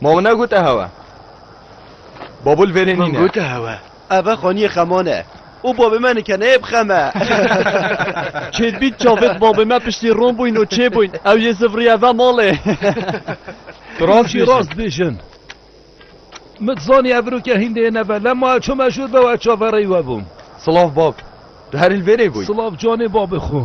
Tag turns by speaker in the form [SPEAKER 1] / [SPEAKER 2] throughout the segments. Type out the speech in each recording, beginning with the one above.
[SPEAKER 1] Ma min negot e hewe. Babul verê nîne. Min got e hewe. Ev e xaniyê xeman e. Û babê me nikeneyê bi xem e. Çêdbît çavêt babê me piştî ron bûyn û çê bûyn. Ew yê zivriye ve malê. Tu rast bêjin. Rast bêjin. Min zanî ev rûke hîndê yê neve. Lem ma ew çi meşûr be û ez çavereyî we bûm. Silav bab. Tu herî li verê bûyî. Silav canê babê xwe.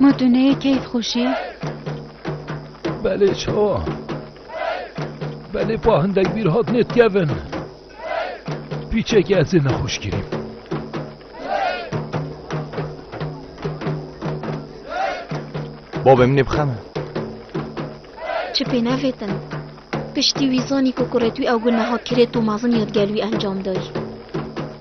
[SPEAKER 1] Ma tu neyê keyf xweşî? Belê çawa? Belê pa hindek bîr hat nêtkevin. Pîçekê ez ê nexweş kirîm. Babê min ê bixeme. Çi pê nevêtin? Piştî wî zanî ku kurê tû ew gu neha kirêt û mezin ya di gel wî encam dayî.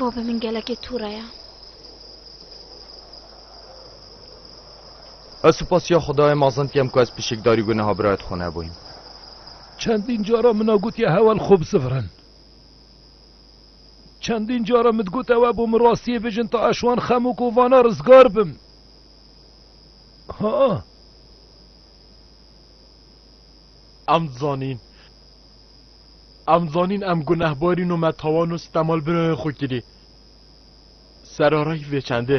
[SPEAKER 1] Baba min gelekê tûra ya. Ez supasiya Xudayê mazin tiyem ku ez pişikdarî guneha birayet xwe nebûyim. Çendîn cara min a gotiye hewel xwe bisivirin. Çendîn cara min digot ew e bo min rastiyê bijin ta ez wan xem û kovana rizgar bim. Ha! Em dizanîn. Em dizanîn em gunehbarîn û me tawan û sitemalbirayên xwe kirî. Serarayî vê çendê.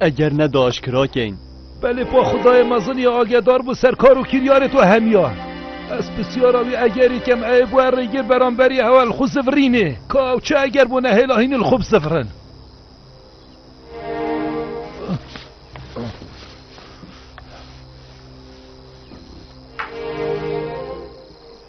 [SPEAKER 1] Eger ne da aşkira keyn. Belê pa xudayê mezin ya agedar bû ser kar û kiryarê to hemiya. Ez pisyara wî egerî kem eyê bûe rêgir beramberî hewa li xwe zivirînê. Ka ew çi eger bû nehêla hînî li xwe bizivirin.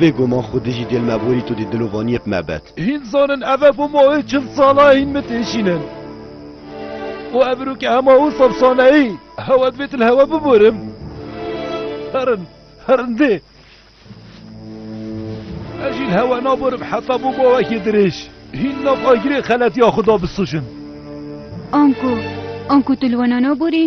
[SPEAKER 1] Bê guman xwe dijî gel me borî tu dî dil û vaniyek me bet. Hîn zanin ev e bo mayê çil sala hîn min têşînin û ev rû ke hema wisa bsaneyî hewa divê tu li hewa biborim. Herin, herin dê. Ez jî li hewa naborim heta bo mawekê dirêj. Hîn nav agirê xeletiya xwe da bisûjin. Anku, anku tu li wana naborî?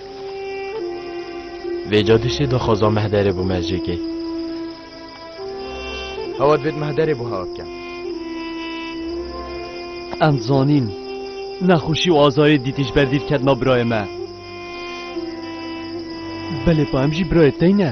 [SPEAKER 1] Vê cadişê daxwaza mehderê bû mercêkê. Hewa divêt mehderê bû hewa bikem. Em zanîn nexweşî û azarê dîtî ji ber dît ketina birayê me. Belê pa em jî birayê tey ne.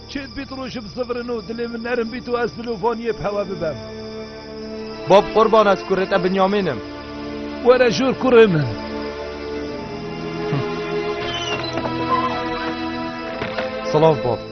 [SPEAKER 1] Çêt bît rojî bi zivrin û dilê min nerm bît û ez li lovaniyê bi hewa bibem. Bab qurban ez kurê te Binyamîn im. Were jûr kurê min. Silav bab.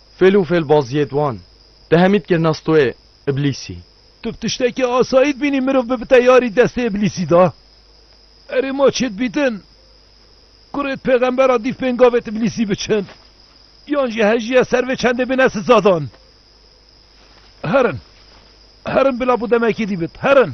[SPEAKER 1] Fêl û fêlbaziyê di wan de hemî dikirina stoyê Îblîsî. Tu bi tiştekî asayî dibînî mirov bibite yarî destê Îblîsî de? Erê ma çê dibîtin ku rê di pêxembera dîv bên gavê Îblîsî biçin yan jî hejîye ser vê çendê bine sizadan. Herin, herin bila bo demekî dî bit, herin.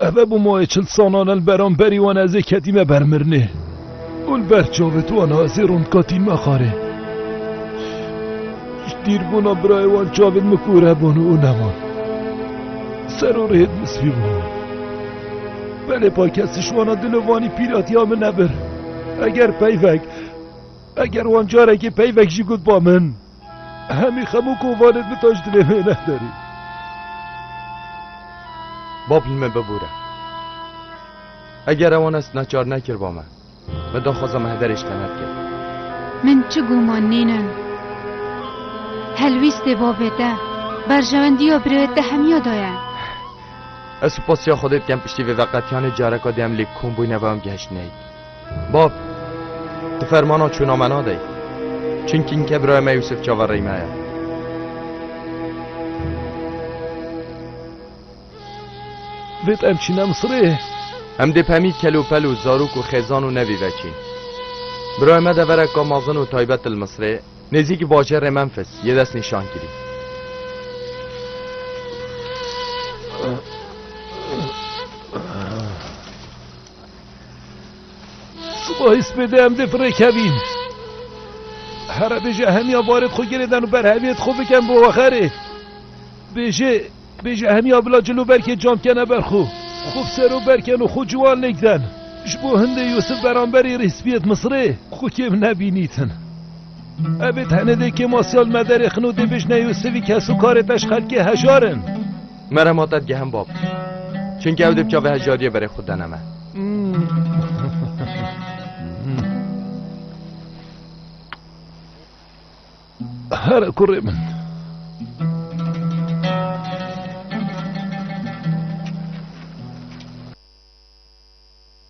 [SPEAKER 1] Eve bûmoyê çil salan el beramberî wan ezê ketîme ber mirinê û li ber çavê wan ezê rondkatîn me xarê. Ji dîrbûna birayê wan çavên min kûre bûn û neman. Ser û rêd min spî bû. Belê pa kes ji wana dilovanî pîratiya min nebir. Eger peyvek, eger wan carekê peyvek jî got ba min. Hemî xem û kovanên min te ji dilê wê nederî. Bab li me bibûre. Eger ewan ez neçar nekirba me, me daxwaza me hederê ji te nedikir. Min çi guman nênin. Helwîstê babê te, berjewendiya birêyê te hemiya da ye. Ez supasiya Xwedê dikem piştî vê veqetiyanê careka dê em lê kom bûyne ve em gihiştineyî. Bab, tu fermana çûna me nadey. Çinkî ke biraya me Yûsif çaverey me ye. Dêt em çîne Misirê. Em dê pemî kelûpel û zarok û xêzan û nevî veçîn. Biraya me devereka mezin û taybet li Misirê nêzîkî bajarê Memfis yê dest nîşan kirî. Siba his bê dê em dê firê kevîn. Here bêje hemiya barê xwe girê den û berheviyê xwe biken bo wexerê. Bêje bêje hemiya bila cil û berkê cam kene ber xwe. Xwe bi sero berken û xwe ciwan lêk den. Ji bo hindê Yûsif beramberî rîspiyêt Misirê xwe kêm nebînîtin. Evê tenê dê kêmasiyal mederê xin û dê bêjne Yûsifî kes û karê te ji xelkê hejar in. Me re ma te digehem bab. Çunke ew dê bi çavê hejiyariyê berê xwe dene me. Here kurê min.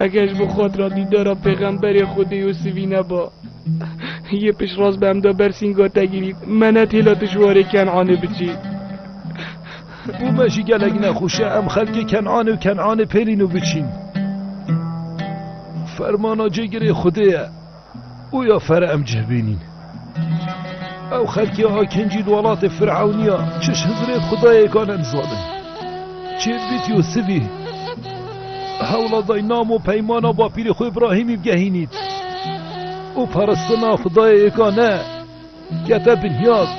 [SPEAKER 1] Eger ji bo xatira dîdara pêxemberê Xwedê Yûsivî neba, yê piştrast bi hemda bersînga te girît, me ne têla tu ji warê Ken'anê biçî. Bo me jî gelek nexweş e em xelkê Ken'anê û Ken'anê pêlîn û biçîn. Fermana cêgirê Xwedê ye. û ya fere em cih bînîn. Ew xelkê akincî li welatê Firewnîya çiş hizirê di xudayêka ne nizanin. Çêbit yo sivî hewla dayî nam û peymana bapîrê xwe Îbrahîmî bigehînît û paristina xudayêka ne kete binyaz.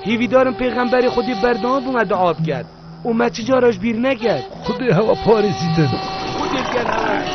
[SPEAKER 1] Hîvîdarin pêxemberê xwedî berdewam bû me dua bikir. Û me çi cara ji bîr nekir. Xwedê hewa parêzîtin. Xwedê ger hewa bî.